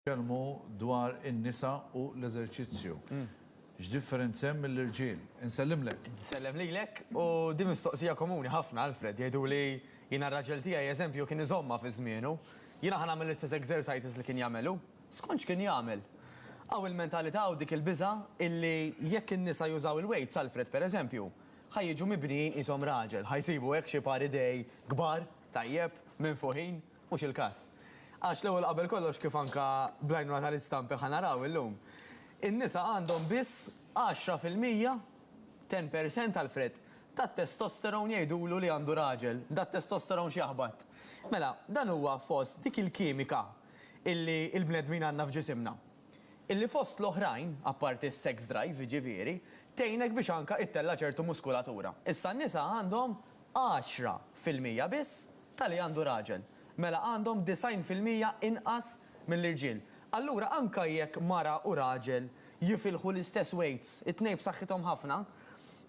Nitkellmu dwar in-nisa u l-eżerċizzju. X'differenza hemm mill-irġiel? Insellimlek. Nsellem lilek. U din mistoqsija komuni ħafna, Alfred. Jgħiduli, jiena r-raġel tiegħi, eżempju, kien iżommha fi żmienu. Jiena ħa nagħmel l-istess exercises li kien jagħmel hu. Skont x'kien jagħmel. Hawn il-mentalità u dik il-biża' illi jekk in-nisa jużaw il-weights, Alfred, per eżempju, ħa jiġu mibnijin qishom raġel. Ħa jsibu hekk xi par idej kbar, tajjeb, minfuħin. Mhux il-każ. Għax l-ewwel qabel kollox kif anke bl-għajnuna tal-istampi ħa naraw illum, in-nisa għandhom biss għaxra fil-mija, ten per cent, Alfred, tat-testosterone jgħidulu li għandu raġel, dat-testosterone x'jaħbat. Mela, dan huwa fost dik il-kimika illi l-bnedmin għandna f'ġisimna. Illi fost l-oħrajn, apparti s-sex drive jiġifieri, tgħinek biex anke ittella' ċertu muskulatura. Issa n-nisa għandhom għaxra fil-mija biss Tali għandu raġel. Mela għandhom disgħin fil-mija inqas mill-irġiel. Allura anke jekk mara u raġel jifilħu l-istess weights, it-tnejn b'saħħithom ħafna,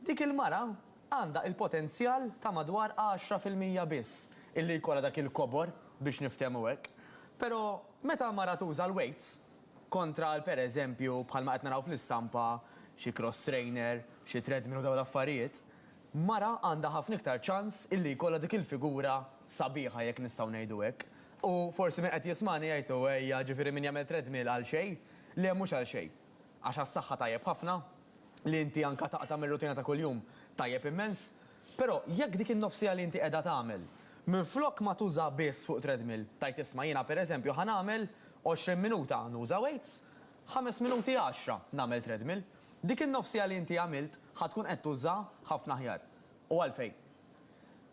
dik il-mara għandha il-potenzjal ta' madwar għaxra fil-mija biss illi jkollha dak il-kobor biex niftehmu hekk. Però meta mara tuża l-weights kontra għal pereżempju bħalma qed naraw fl-istampa xi cross trainer, xi treadmill u dawn l-affarijiet, mara għandha ħafna iktar ċans illi jkollha dik il-figura sabiħa jekk nistgħu ngħidu hekk. U forsi min qed jismagħni jgħid hu ejja ġifieri min jagħmel treadmill għal xejn. Le mhux għal xejn. Għax għas-saħħa tajjeb ħafna, li inti anke taqta' mir-rutina ta' kuljum tajjeb immens. Però jekk dik in-nofsija li inti qiegħda tagħmel, minflok ma tuża biss fuq treadmill, tgħid isma' jiena pereżempju ħa nagħmel 20 minuta nuża weights, Ħames minuti għaxra nagħmel treadmill. Dik in-nofsija li inti għamilt ħa tkun qed tużaha ħafna aħjar. U għalfejn?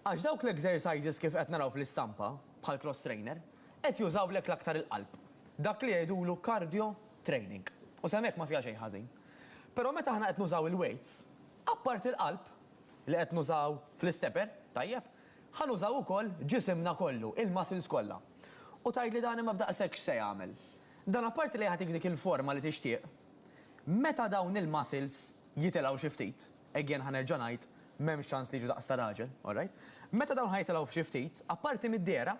Għax dawk l-exercises kif qed naraw fl-istampa, bħal cross trainer, qed jużawlek l-aktar il-qalb. Dak li jgħidulu cardio training. U sehem hekk ma fiha xejn ħażin. Però meta aħna qed nużaw il-weights, apparti l-qalb, li qed nużaw fl-istepper, tajjeb, ħa nużaw ukoll ġisimna kollu, il-muscles kollha. U tgħidli dan imma b'daqshekk x'se jagħmel? Dan apparti li jagħtik dik il-forma li tixtieq. Meta dawn il-muscles jitilgħu xi ftit, again ħa nerġa' ngħid, m'hemmx ċans li jiġu daqs ta' raġel, alright? Meta dawn ħa jitilgħu f'xi ftit, apparti mid-dehra,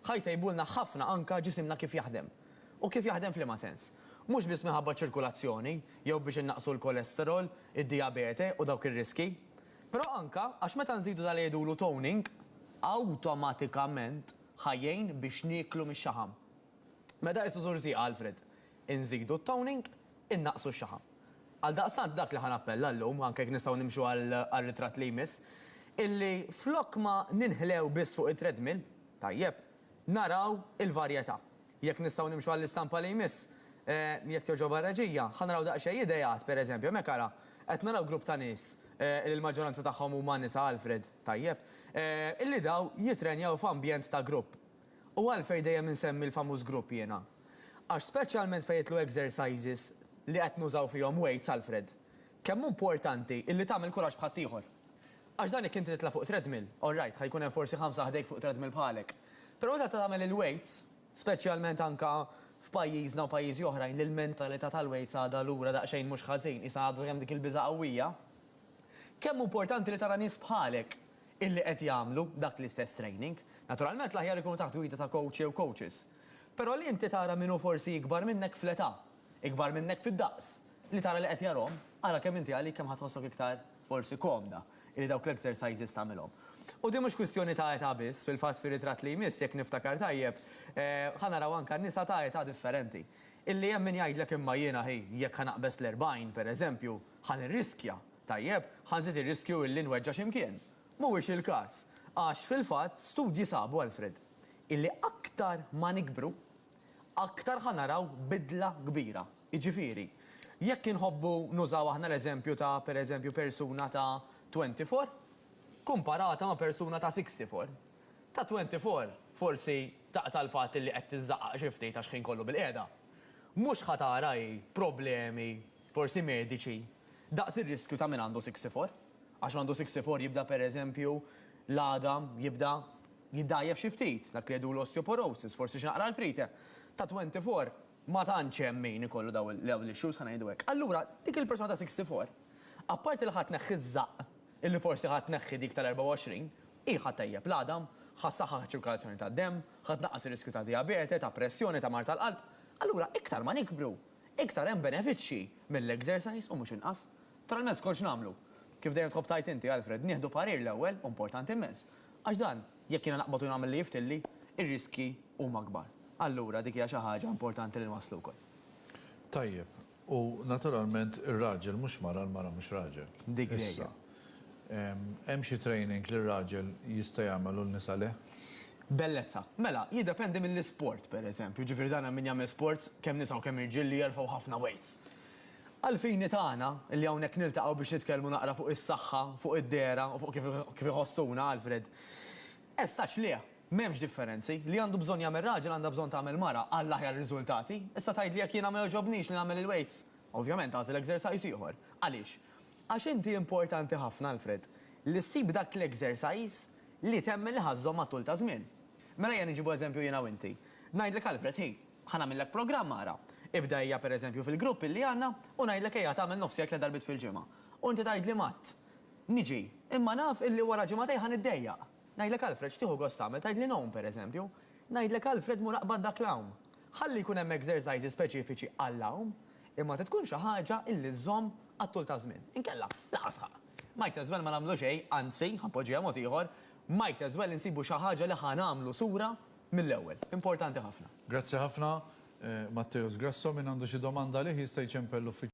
ħa jtejbulna ħafna anke ġisimna kif jaħdem. U kif jaħdem f'liema sens? Mhux biss minħabba ċ-ċirkulazzjoni, jew biex innaqqsu l-cholesterol, id-dijabete u dawk ir-riskji, però anke għax meta nżidu dak li jgħidulu toning, awtomatikament ħa jgħin biex nieklu mix-xaħam. Meta qisu żur zieqa Alfred, inżidu t-toning, innaqqsu x-xaħam. Għaldaqstant dak li ħa nappella llum, anke jekk nistgħu nimxu għar-ritratt li jmiss, illi flok ma ninħlew biss fuq it-treadmill, tajjeb, naraw il-varjetà. Jekk nistgħu nimxu għall-istampa li jmiss, jekk togħġobha r-reġija, ħa naraw daqsxejn ideat, pereżempju, hemmhekk ara, qed naraw grupp ta' nies, li l-maġġoranza tagħhom huma nisa Alfred, tajjeb, illi daw jittrenjaw f'ambjent ta' grupp. U għalfejn dejjem insemmi l-famuż grupp jiena? Għax speċjalment fejn jidħlu exercises li qed nużaw fihom weights, Alfred, kemm hu importanti illi tagħmel kuraġġ bħat ieħor. Għax dan jekk inti titla' fuq treadmill, all right, ħa jkun hemm forsi ħamsa ħdejk fuq treadmill bħalek. Però meta tagħmel il-weights, speċjalment anke f'pajjiżna u pajjiżi oħrajn li l-mentalità tal-weights għadha lura daqsxejn mhux ħażin, qisha għadu hemm dik il-biża' qawwija, kemm hu importanti li tara nies bħalek illi qed jagħmlu dak l-istess training. Naturalment l-aħjar ikunu taħt gwida ta' coach jew coaches. Però li inti tara min hu forsi ikbar minnek fl-età, ikbar minnek fid-daqs, li tara li qed jarahom, ara kemm inti għalik kemm ħa tħossok iktar forsi komda illi dawk l-exercises tagħmilhom. U din mhux kwistjoni ta' età biss, fil-fatt fir-ritratt li jmiss, jekk niftakar tajjeb, ħa naraw anke nisa ta' età differenti. Illi hemm min jgħidlek imma jiena hi jekk ħa naqbeż l-erbgħin, pereżempju, ħa nirriskja. Tajjeb, ħa nżid ir-riskju illi nweġġa' xi mkien. Mhuwiex il-każ. Għax, fil-fatt, studji sabu, Alfred, illi aktar ma nikbru, aktar ħa naraw bidla kbira. Jiġifieri, jekk inħobbu nużaw aħna l-eżempju ta', per eżempju, persuna ta' twenty four, kumparata ma' persuna ta' sixty four, ta' twenty four forsi taqta' l-fatt illi qed tiżżaqqaq xi ftit għax ħin kollu bilqiegħda. Mhux ħa tara hi problemi forsi mediċi, daqs ir-riskju ta' min għandu siksifor. Għax min għandu siksifor jibda pereżempju l-għadam jibda jiddgħajjef xi ftit, dak li jgħidu l-osteoporosis, forsi xi naqra artrite. Ta' 24 ma tantx hemm min ikollu dawn l-issues, ħa ngħidu hekk. Allura, dik il-persuna ta' siksifor, apparti li ħa tneħħi ż-żaqq, illi forsi ħa tneħħi dik tal-24, hi ħa ttejjeb l-għadam, ħa ssaħħaħ iċ-ċirkolazzjoni tad-demm, ħa tnaqqas ir-riskju ta' dijabete, ta' pressjoni, ta' mard tal-qalb. Allura, iktar ma nikbru, Iktar hemm benefiċċji mill-exercise u mhux inqas. Tara l-mezz kont x'nagħmlu. Kif dejjem tħobb tgħid inti, Alfred, nieħdu parir l-ewwel hu importanti immens. Għax dan, jekk jiena naqbad u nagħmel li jiftilli, ir-riskji huma kbar. Allura dik hija xi ħaġa importanti li nwasslu wkoll. Tajjeb. U naturalment ir-raġel mhux mara, l-mara mhux raġel. Dik dejjem. Issa, Hemm xi training li r-raġel jista' jagħmel u n-nisa le? Bellezza. Mela, jiddependi mill-isport, pereżempju, jiġifieri dan hemm min jagħmel sports, kemm nisa u kemm irġiel, li jerfgħu ħafna weights. Għall-fini tagħna, li hawnhekk niltaqgħu biex nitkellmu naqra fuq is-saħħa, fuq id-dehra u fuq kif kif iħossuna, Alfred. Essaċ le, m'hemmx differenzi. Li għandu bżonn jagħmel raġel għandha bżonn tagħmel mara għall-aħjar riżultati. Issa tgħidli jekk jiena ma jogħġobnix li nagħmel il-weights? Ovvjament tagħżel exercise ieħor. Għaliex? Għax inti importanti ħafna, Alfred, li ssib dak l-exercise li temmen li ħa żżomm għat-tul ta' żmien. Mela ejja niġibu eżempju jiena u inti. Ngħidlek Alfred, ħi, ħa nagħmillek programm ara. Ibda ejja per eżempju fil-grupp illi għandna u ngħidlek ejja tagħmel nofs jgħid tliet darbiet fil-ġimgħa. U inti tgħidli m'għadd. Niġi. Imma naf illi wara ġimagħtejn ħa niddejjaq. Ngħidlek Alfred, x'tieħu gost tagħmel? Tgħidli ngħum per eżempju. Ngħidlek Alfred mur aqbad dak l-għawm. Ħalli jkun hemm exercises speċifiċi għall-għawm, imma trid tkun xi ħaġa illi żżomm għat-tul ta' żmien. Inkella, laqas ħa. Might as well ma nagħmlu xejn, anzi, ħa npoġġiha mod ieħor, might as well insibu xi ħaġa li ħa nagħmlu sura mill-ewwel. Importanti ħafna. Grazzi ħafna. Matteus Grasso, min għandu xi domanda għalih jista' jċempel l-uffiċċju.